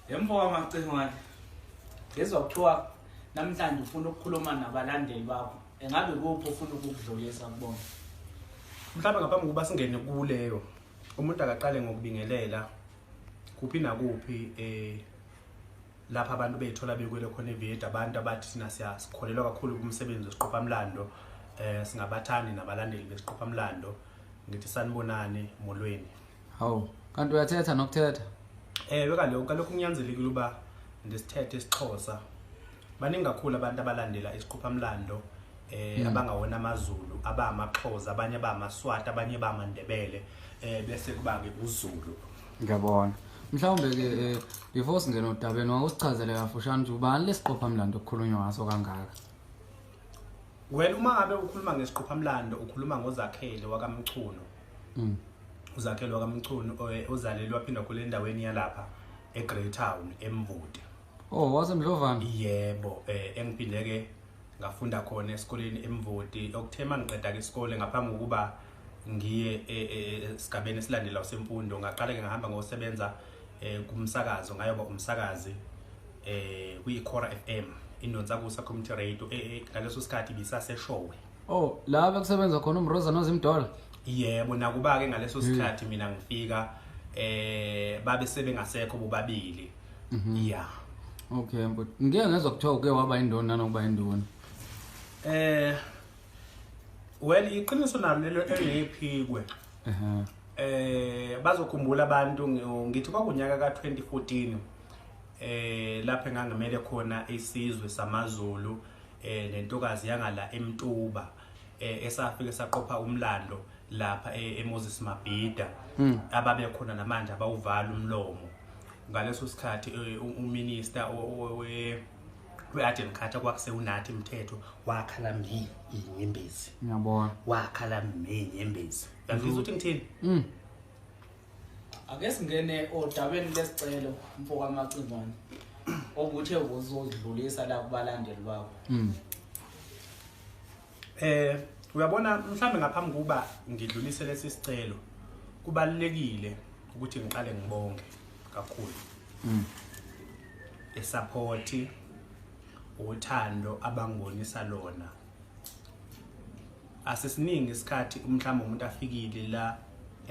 Yemfo wamacingwane. Ngizwa kuthiwa namhlanje ufuna ukukhuluma nabalandeli bakho. Engabe kuphi ufuna ukukudlulisa kubona? Mhlawumbe ngaphambi kokuba singene kuleyo umuntu akaqale ngokubingelela kuphi nakuphi eh lapha abantu bethola bekwele khona eVietnam abantu abathi sina siyasikholelwa kakhulu kumsebenzi wesiqopha mlando eh singabathandi nabalandeli besiqopha mlando ngithi sanibonani molweni hawu kanti uyathetha nokuthetha ewe kaloku kaloku kunyanzelekile uba ndisithethe isixhosa baningi kakhulu abantu abalandela isiqophamlando eh mm. abangawona amazulu abamaxhosa abanye abamaswati abanye bamandebele eh bese kuba ke uzulu ngiyabona mhlawumbe ke eh, before singena odabeni wawusichazele kafushane ukuthi ubani lesiqophamlando okukhulunywa ngaso kangaka well uma ngabe ukhuluma ngesiqophamlando ukhuluma ngozakhele wakamchuno mm. uzakhelwa kamchunu ozalelwa phinda khule endaweni yalapha eGreytown eMvude oh wasemdlovana yebo eh engiphinde ke ngafunda khona esikoleni eMvude okuthema ngiqeda ke isikole ngaphambi kokuba ngiye e, e, esigabeni esilandela usemfundo ngaqala ke ngahamba ngosebenza eh, kumsakazo ngayoba umsakazi eh kwi-Cora FM indonsa kusa community radio eh, eh, ngaleso sikhathi bisaseshowe Oh, la bekusebenza khona uMroza noZimdola. Yebo, nakuba ke ngaleso hmm. sikhathi mina ngifika eh babe sebengasekho bobabili. Mhm. Yeah. Okay, but ngeke ngezwa kuthiwa uke waba indona nokuba indona. Eh Well, iqiniso nalo lelo engephikwe. Ehhe. Eh bazokhumbula abantu ngithi kwakunyaka ka2014 eh lapho engangimele khona isizwe samaZulu eh nentokazi yangala eMtuba eh, esafike saqopha umlando lapha eh, eMoses Mabhida hmm. ababe khona namanje abawuvala umlomo ngaleso sikhathi eh, uminister we we-agent khathi kwakusewunathi imthetho wakhala mi inyembezi ngiyabona wakhala mi inyembezi uyangizwa ukuthi ngithini hmm. ake singene odabeni lesicelo mfokamacingwane obuthe uzozidlulisa la kubalandeli bakho mm. eh uyabona mhlambe ngaphambi kuba ngidlulise lesi sicelo kubalekile ukuthi ngiqale ngibonge kakhulu mm. esupport uthando abangonisa lona asisiningi isikhathi umhlawumbe umuntu afikile la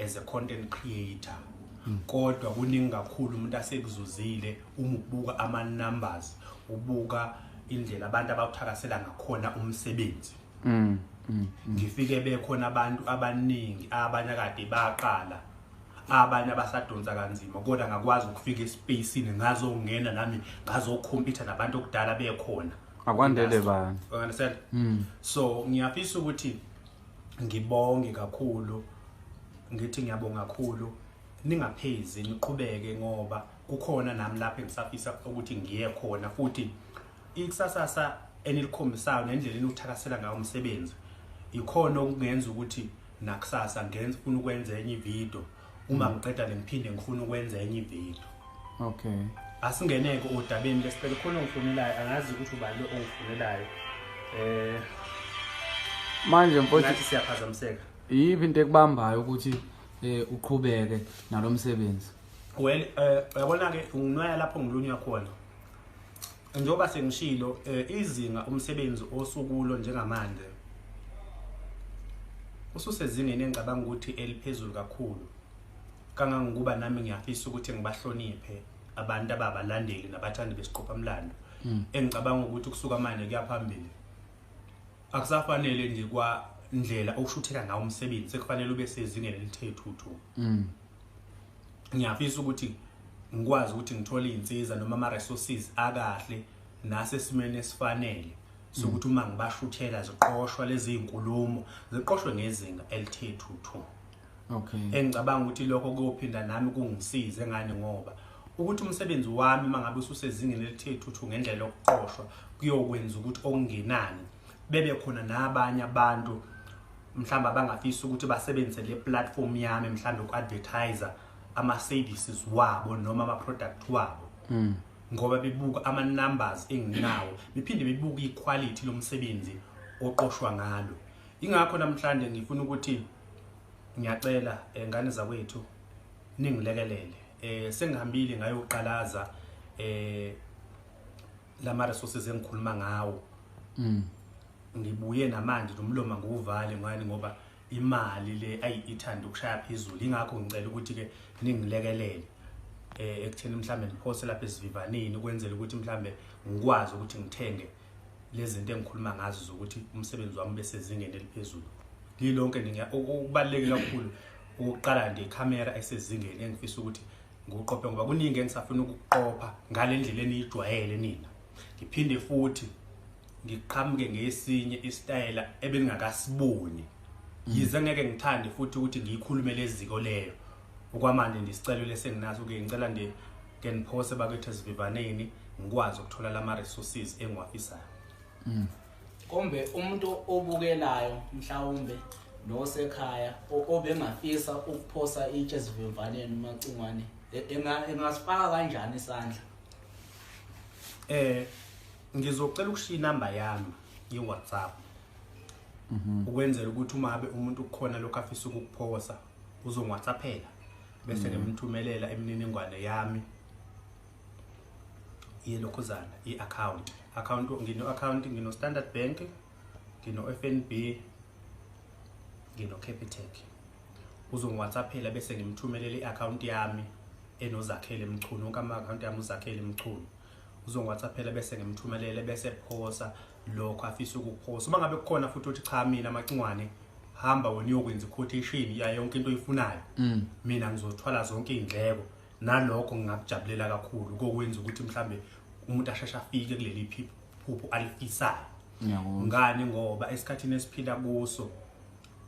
as a content creator hmm. kodwa kuningi kakhulu umuntu asekuzuzile uma ubuka ama numbers ubuka indlela abantu abawuthakasela ngakhona umsebenzi hmm, hmm, ngifike bekhona abantu abaningi abanye kade baqala abanye abasadonsa kanzima kodwa ngakwazi ukufika espacini ngazongena nami ngazokhompyutha nabantu okudala bekhona akwandele bani you understand mm. so ngiyafisa ukuthi ngibonge kakhulu ngithi ngiyabonga kakhulu ningaphezi niqhubeke ngoba kukhona nami lapho engisafisa ukuthi ngiye khona futhi ikusasasa enilikhombisayo nendlela eniwuthakasela ngayo umsebenzi ikhona okungenza ukuthi nakusasa ngenza ufuna ukwenza enye ividiyo uma mm. ngiqeda le ngiphinde ngifuna ukwenza enye ivideo okay asingeneke odabeni lesicela khona ongifunelayo angazi ukuthi ubani ongifunelayo eh manje mfowethu siyaphazamiseka yiphi into ekubambayo ukuthi eh uqhubeke nalomsebenzi well eh yabona ke unginwaya lapho ngilunywa khona Njengoba sengishilo eh, izinga umsebenzi osukulo njengamanje ususezingeni engicabanga ukuthi eliphezulu kakhulu kangangokuba nami ngiyafisa ukuthi ngibahloniphe abantu ababalandeli nabathandi besiqophamlando hmm. engicabanga ukuthi kusuka manje kuyaphambili akusafanele nje kwandlela okushutheka ngawo umsebenzi sekufanele ube sezingeni elithethuthu hmm. ngiyafisa ukuthi ngikwazi ukuthi ngithole izinsiza noma ama resources akahle nasesimeni esifanele sokuthi uma ngibashuthela ziqoshwa lezi zinkulumo ziqoshwe ngezinga elithe thuthu okay engicabanga ukuthi lokho kuyophinda nami kungisize ngani ngoba ukuthi umsebenzi wami mangabe ususezingeni elithe thuthu ngendlela yokuqoshwa kuyokwenza ukuthi okungenani bebe khona nabanye abantu mhlawumbe abangafisa ukuthi basebenzise le platform yami mhlawumbe uku-advertiser ama-services wabo noma ama-product wabo mm. ngoba bebuka ama-numbers enginawo bephinde bebuka iquality lomsebenzi oqoshwa ngalo ingakho namhlanje ngifuna ukuthi ngiyacela eh, ngane zakwethu ningilekelele eh sengihambile ngayoqalaza eh lama resources engikhuluma ngawo mm. ngibuye namanje nomloma nguvale ngani ngoba imali le ayi ithanda ukushaya phezulu ingakho ngicela ukuthi ke ningilekelele eh ekutheni mhlambe ngiphose lapha esivivaneni ukwenzela ukuthi mhlambe ngikwazi ukuthi ngithenge lezinto engikhuluma ngazo zokuthi umsebenzi wami bese zingene eliphezulu lilonke ninga ukubalekela kakhulu ukuqala nje ikhamera esezingeni engifisa ukuthi ngiwuqophe ngoba kuningi engisafuna ukuqopha ngale ndlela eniyijwayele nina ngiphinde futhi ngiqhamuke ngesinye isitayela ebengingakasiboni yize ngeke ngithande futhi ukuthi ngiyikhulume leziko leyo okwamanje ndisicelo lesenginaso ke ngicela nje ke niphose bakwethu esivivaneni ngikwazi ukuthola lama resources engiwafisayo mm. kombe umuntu obukelayo mhlawumbe nosekhaya obengafisa ukuphosa itshe ezivimvaneni umacingwane e, engasifaka kanjani isandla eh ngizocela ukushiya inamba yami ye-whatsapp mhm. ukwenzela ukuthi uma abe umuntu kukhona lokhu afisa ukukuphosa uzongwhatsaphela bese mhm. ngimthumelela imininingwane yami yelokhuzana i-akhawunti akhawunti ngino-akhawunti ngino-standard bank ngino-f n b ngino-capitec uzongiwhatsaphela bese ngimthumelele i-akhawunti yami enozakhele mchunu wonke ama-akhawunti yami uzakhele mchunu uzongiwhatsaphela bese ngimthumelele bese phosa lokho afisa ukuphosa uma ngabe kukhona futhi ukuthi cha mina amacingwane hamba wena uyokwenza iquotation yayo yonke into oyifunayo mm. mina ngizothwala zonke iy'ndleko nalokho ngingakujabulela kakhulu kokwenza ukuthi mhlambe umuntu asheshe afike kuleli phupho alifisayo ngani ngoba esikhathini esiphila kuso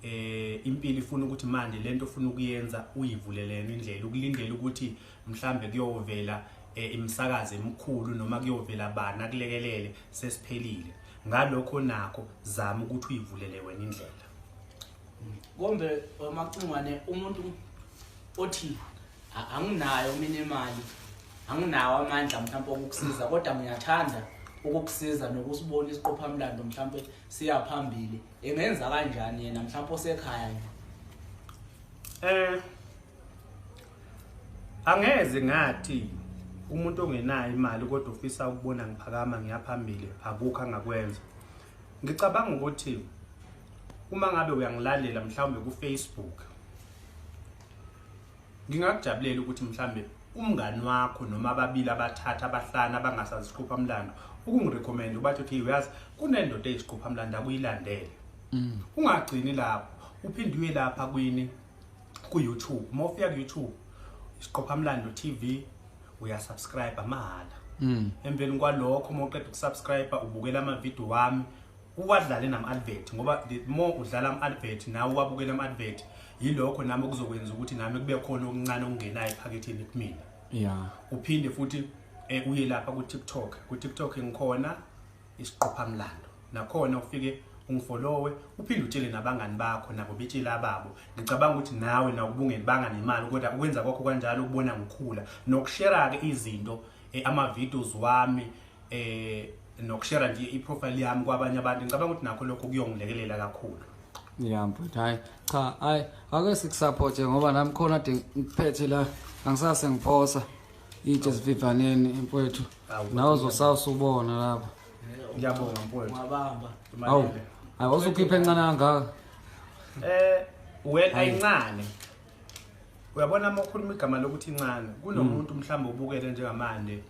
eh impilo ifuna ukuthi manje lento ofuna ukuyenza uyivulelene indlela ukulindela ukuthi mhlambe kuyovela eh, imisakazo emikhulu noma kuyovela bana kulekelele sesiphelile ngalokho nakho zama ukuthi uyivulele wena indlela kombe wamacingwane umuntu othi anginayo mina imali anginawo amandla mhlawumpe okukusiza kodwa ngiyathanda ukukusiza nokusibona isiqophamlando mhlawumpe siya phambili engenza kanjani yena mhlawumpe osekhaya nje eh angeze ngathi umuntu ongenayo imali kodwa ufisa ukubona ngiphakama ngiyaphambili akukho angakwenza Ngicabanga ukuthi uma ngabe uyangilalela mhlawumbe ku Facebook ngingakujabulela ukuthi mhlawumbe umngani wakho noma ababili abathatha abahlanu abangasaziqhupha mlando ukungirecommend ubathi okay uyazi kunendoda eyiqhupha mlando akuyilandele mm. ungagcini lapho uphinde uye lapha kwini ku-youtube uma ufika ku-youtube isiqophamlando tv uyasubscribe mahhala mm. emveni kwalokho uma uqeda ukusubscribe ubukela amavidiyo wami uwadlale nama-advert ngoba the more udlala ama-advert nawe uwabukela ama-advert yilokho nami okuzokwenza ukuthi nami kube khona okuncane okungenayo ephaketheni kumina ya uphinde futhi um uye lapha ku-tiktok ku-tiktok ngikhona isiqophamlando nakhona ufike ungifolowe uphinde utshele nabangani bakho nabo betshela ababo ngicabanga ukuthi nawe nakubungeli banga nemali kodwa ukwenza kwakho kanjalo ukubona ngikhula nokushera-ke izinto eh, ama-videos wami eh nokushera nje i-profile yami kwabanye abantu ngicabanga ukuthi nakho lokho kuyongilekelela kakhulu ya mfuthu hhayi cha hhayi ake sikusapothe ngoba nami khona de ngiphethe la angisase ngiphosa itshe sivivaneni mfowethu nawe uzosawusa ubona lapho ngiyabonga mfowethu wabamba awu hayi wawusukhipha encane kangaka eh well ayincane uyabona uma ukhuluma igama lokuthi incane kunomuntu mm. mhlawumbe ubukele njengamanje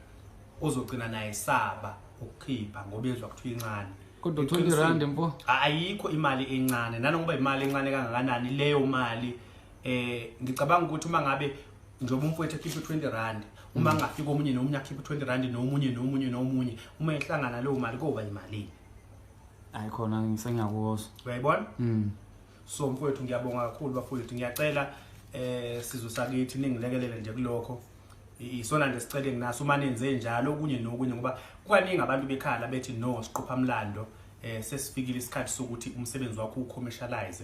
ozogcina naye saba ukukhipha ngoba ezwa kuthiwa incane kodwa 20 rand mpo ayikho imali encane nanokuba imali encane kangakanani leyo mali eh ngicabanga ukuthi uma ngabe njengoba umfowethu ekhiphe 20 rand uma mm. ngafika omunye nomunye akhiphe 20 rand nomunye nomunye nomunye uma ehlangana leyo mali koba imalini hayi khona ngisengiyakuzwa uyayibona mm. so mfowethu ngiyabonga kakhulu bafowethu ngiyacela eh sizwe sakithi ningilekelele nje kulokho isona nje sicele nginaso uma nenze njalo okunye nokunye ngoba kwaningi abantu bekhala bethi no siqopha mlando eh sesifikile isikhathi sokuthi umsebenzi wakho ucommercialize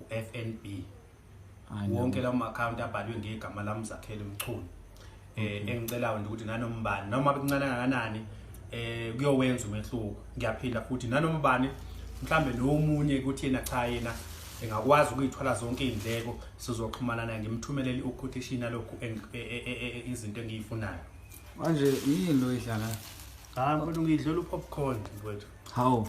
uFNB wonke lawo ma-akhawunti abhalwe ngegama lami zakhele mchunu um eh, engicelayo nje ukuthi nanombani noma bekuncane kanganani um kuyowenza umehluko ngiyaphinda futhi nanombani mhlawumbe nomunye ukuthi yena cha yena engakwazi ukuyithwala zonke iy'ndleko sizoxhumana naye ngimthumelele uquotation yalokhu e, e, e, izinto engiyifunayo manje yini lo idlala hayi mfowethu ngiyidlela upopcorn mfowethu hawu